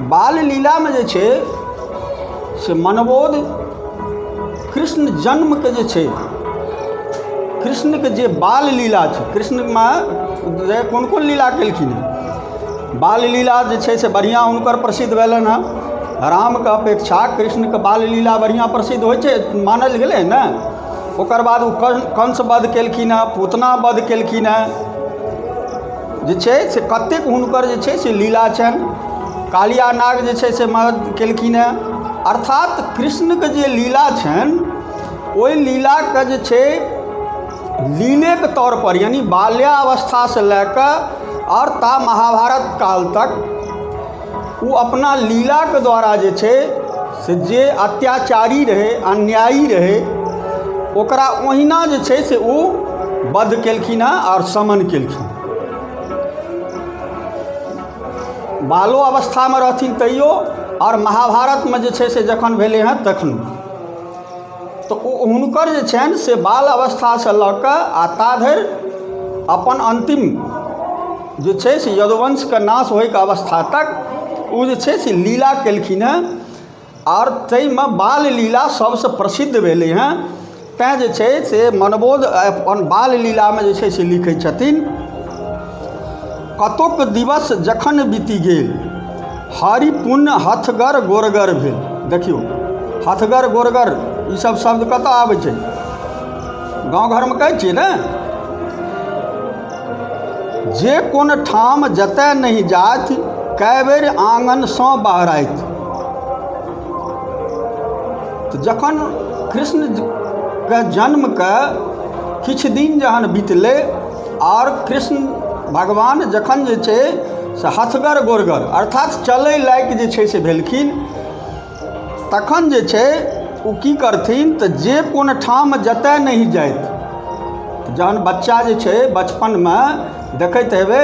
बाल लीलामे जे छै से मनबोध कृष्ण जन्मके जे छै कृष्णके जे बाल लीला छै कृष्णमे जे कोन कोन लीला केलखिन हँ बाल लीला जे छै से बढ़िआँ हुनकर प्रसिद्ध भेलनि हँ रामके अपेक्षा कृष्णके बाल लीला बढ़िआँ प्रसिद्ध होइ छै मानल गेलै ने ओकर बाद ओ कंस वध केलखिन हँ पूतना वध केलखिन हँ जे छै से कतेक हुनकर जे छै से लीला छनि कालिया नाग जे छै से मदद केलखिन हँ अर्थात कृष्णके जे लीला छनि ओहि लीलाके जे छै लीलेके तौरपर यानि बाल्यावस्थासँ लए कऽ आओर ता महाभारत काल तक ओ अपना लीलाके द्वारा जे छै से जे अत्याचारी रहै अन्यायी रहै ओकरा ओहिना जे छै से ओ वध केलखिन हँ आओर समन केलखिन बालो अवस्थामे रहथिन तैयो आओर महाभारतमे जे छै से जखन भेलै हँ तखनो तऽ ओ हुनकर जे छनि से बाल अवस्थासँ लऽ कऽ आ ता धरि अपन अन्तिम जे छै से यदुवंशके नाश होइके अवस्था तक ओ जे छै से लीला केलखिन हँ आओर ताहिमे बाल लीला सबसँ प्रसिद्ध भेलै हँ तैँ जे छै से मनबोध अपन बाल लीलामे जे छै से लिखै छथिन कतोक दिवस जखन बीति गेल हरि पुन हथगर गोरगर भेल देखियौ हथगर गोरगर ई सब शब्द कतऽ आबै छै गाँव घरमे कहै छियै ने जे कोन ठाम जतय नहि जाथि कए बेर आंगनसँ बहराथि तऽ जखन कृष्णके जन्मके किछु दिन जहन बितलै आओर कृष्ण भगवान जखन जे छै से हथगर गोरगर अर्थात चलय लायक जे छै से भेलखिन तखन जे छै ओ की करथिन तऽ जे कोन ठाम जतय नहि जाइत जहन बच्चा जे छै बचपनमे देखैत हेबै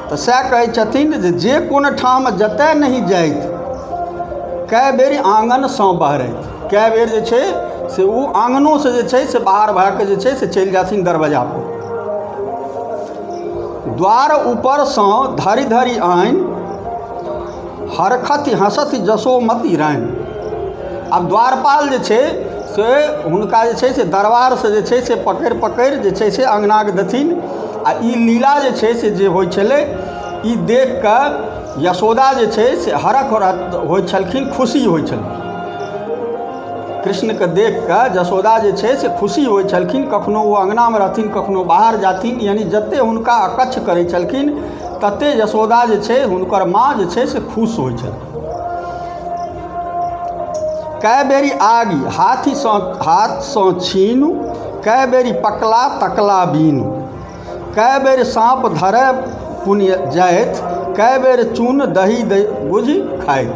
तऽ सएह कहै छथिन जे जे कोन ठाम जतय नहि जाइत कए बेर आँगनसँ बहरैत कए बेर जे छै से ओ आँगनोसँ जे छै से बाहर भए कऽ जे छै से चलि जाथिन दरवाजापर द्वार ऊपरसँ धरि धरि आनि हरखति हँसति जसोमति रानी आब द्वारपाल जे छै से हुनका जे छै से दरबारसँ जे छै से पकड़ि पकड़ि जे छै से अङ्गनाके देथिन आओर ई लीला जे छै से जे होइ छलै ई देखिकऽ यशोदा जे छै से हरख हरख होइ छलखिन खुशी होइ छलखिन कृष्णके देखिकऽ जशोदा जे छै से खुशी होइ छलखिन कखनो ओ अङ्गनामे रहथिन कखनो बाहर जाथिन यानि जतेक हुनका अकच्छ करै छलखिन तते यशोदा जे छै हुनकर माँ जे छै से खुश होइ छथि कए बेरी आगि हाथीसँ हाथसँ छीनु कए बेरी पकला तकला बीनु कए बेर साँप धरय पुण्य जाइत कए बेर चून दही दै बुझि खाइत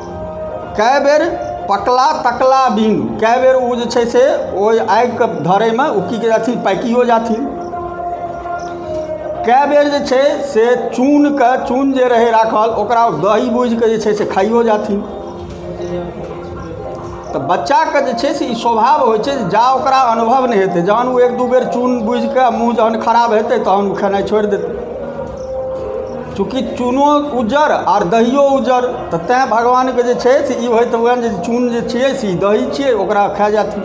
कए बेर पकला तकला बिन कए बेर ओ जे छै से ओहि आगिके धरयमे ओ की कहै छथिन पाकिओ जाथिन कए बेर जे छै से चूनके चून जे रहै राखल ओकरा दही बूझि कऽ जे छै से खाइओ जाथिन तऽ बच्चाके जे छै से ई स्वभाव होइ छै जा ओकरा अनुभव नहि हेतै जहन ओ एक दू बेर चुनि बुझि कऽ मूँह जहन खराब हेतै तहन ओ खेनाइ छोड़ि देतै चूँकि चूनो उज्जर आर दहियो उज्जर तऽ तैँ भगवानके जे छै से ई होइत हुअनि जे चून जे छियै से ई दही छियै ओकरा खा जाथिन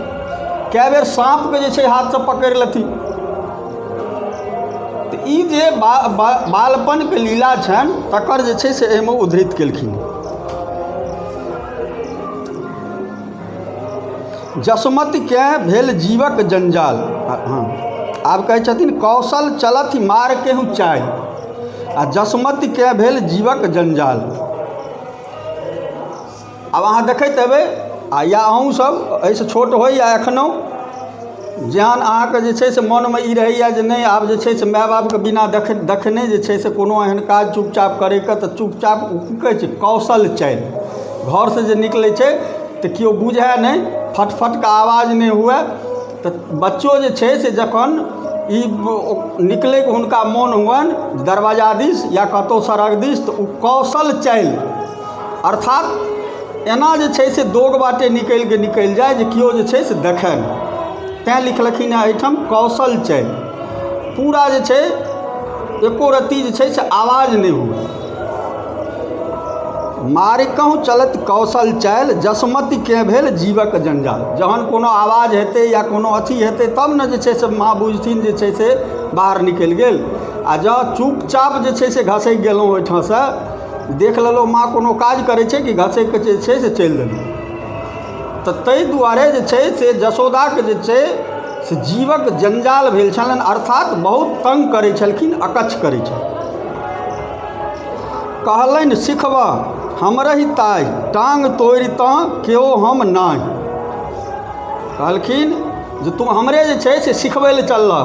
कए बेर साँपके जे छै हाथसँ पकड़ि लेथिन तऽ ई जे बा, बा, बालपनके लीला छनि तकर जे छै से एहिमे उद्धृत केलखिन जसमतिकेँ भेल जीवक जंजाल हँ आब कहै छथिन कौशल चलथि मार केहू चालि आ जसमतिकेँ भेल जीवक जंजाल आब अहाँ देखैत हेबै आ या अहूँसभ एहिसँ छोट होइ या एखनहु जहन अहाँके जे छै से मोनमे ई रहैए जे नहि आब जे छै से माय बापके बिना देख देखने जे छै से कोनो एहन काज चुपचाप करयके तऽ चुपचाप ओ की कहै छै कौशल चयन घरसँ जे निकलै छै तऽ केओ बुझए नहि फट फटके आवाज नहि हुए तऽ बच्चो जे छै से जखन ई ओ- निकलैके हुनका मोन हुअनि दरवाजा दिस या कतहु सड़क दिस तऽ ओ कौशल चयन अर्थात एना जे छै से दोग बाटे निकलि कऽ निकलि जाय जे केओ जे छै से देखय नहि तैँ लिखलखिन हेँ एहिठाम कौशल चैल पूरा जे छै एको रत्ती जे छै से आवाज नहि हुए मारिकहु चलत कौशल चैल जसमति केँ भेल जीवक जंजाल जहन कोनो आवाज हेतै या कोनो अथी हेतै तब ने जे छै से माँ बुझथिन जे छै से बाहर निकलि गेल आ जँ चुपचाप जे छै से घसकि गेलहुँ ओहिठामसँ देख लेलहुँ माँ कोनो काज करै छै कि घसैके जे छै से चलि देलहुँ तऽ ताहि दुआरे जे छै से जसोदाके जे छै से जीवक जंजाल भेल छलनि अर्थात बहुत तंग करै छलखिन अकच्छ करै छलखिन कहलनि सिखबह हमरहि ताइ टांग तोड़ि तँ केओ हम नहि कहलखिन जे तू हमरे जे छै से सिखबै लए चललह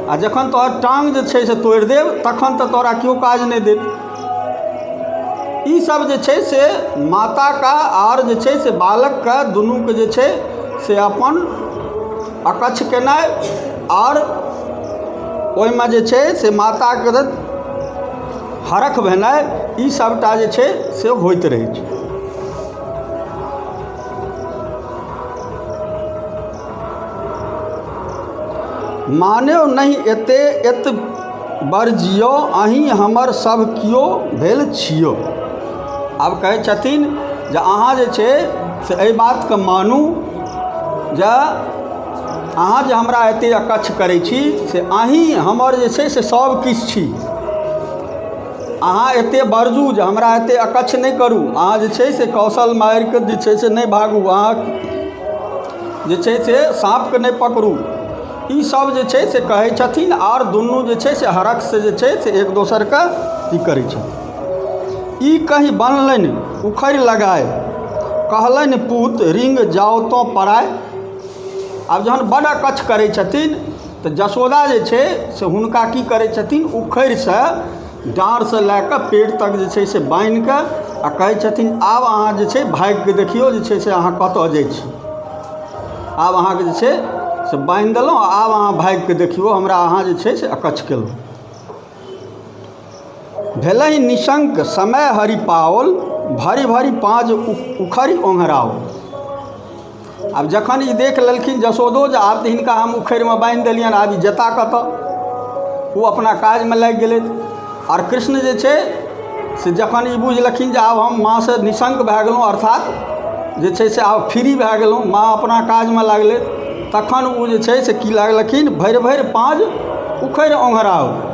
आ जखन तोहर टाँग जे छै से तोड़ि देब तखन तऽ तोरा केओ काज नहि देत ई सब जे छै से माताके आर जे छै से बालकके दुनूके जे छै से अपन अकच्छ केनाइ आओर ओहिमे जे छै से माताके हरख भेनाइ ई सबटा जे छै से होइत रहै छै मानौ नहि एते एत बरजियौ अहीँ हमर सभ कियो भेल छियौ आब कहै छथिन जे अहाँ जे छै से एहि बातकेँ मानू जे अहाँ जे हमरा एतेक अकच्छ करै छी से अहीँ हमर जे छै से सभकिछु छी अहाँ एतेक बरजू जे हमरा एतेक अकच्छ नहि करू अहाँ जे छै से कौशल मारिके जे छै से नहि भागू अहाँ जे छै से साँपके नहि पकड़ू ई सब जे छै से कहै छथिन आओर दुनू जे छै से हरखसँ जे छै से एक दोसरके अथी करै छथिन ई कहि बनलनि उखड़ि लगाय कहलनि पूत रिंग जाउ तँ पराय आब जहन बड्ड अकच्छ करै छथिन तऽ जसोदा जे छै से हुनका की करै छथिन उखरिसँ डाँड़सँ लए कऽ पेड़ तक जे छै से बान्हि कऽ आ कहै छथिन आब अहाँ जे छै भागि कऽ देखियौ जे छै से अहाँ कतऽ जाइ छी आब अहाँके जे छै से बान्हि देलहुँ आब अहाँ भागि कऽ देखियौ हमरा अहाँ जे छै से अकच्छ केलहुँ भेलहि निशंक समय हरि पाओल भरि भरि पाँज उखड़ि ओंघराओल आब जखन ई देख लेलखिन जसोदो जे आब तऽ हिनका हम उखड़िमे बान्हि देलियनि आब ई जेता कतऽ ओ अपना काजमे लागि गेलै आओर कृष्ण जे छै से जखन ई बुझलखिन जे आब हम माँसँ निशंक भए गेलहुँ अर्थात जे छै से आब फ्री भए गेलहुँ माँ अपना काजमे लागलै तखन ओ जे छै से की लागलखिन भरि भरि पाँज उखड़ि ओंघराओल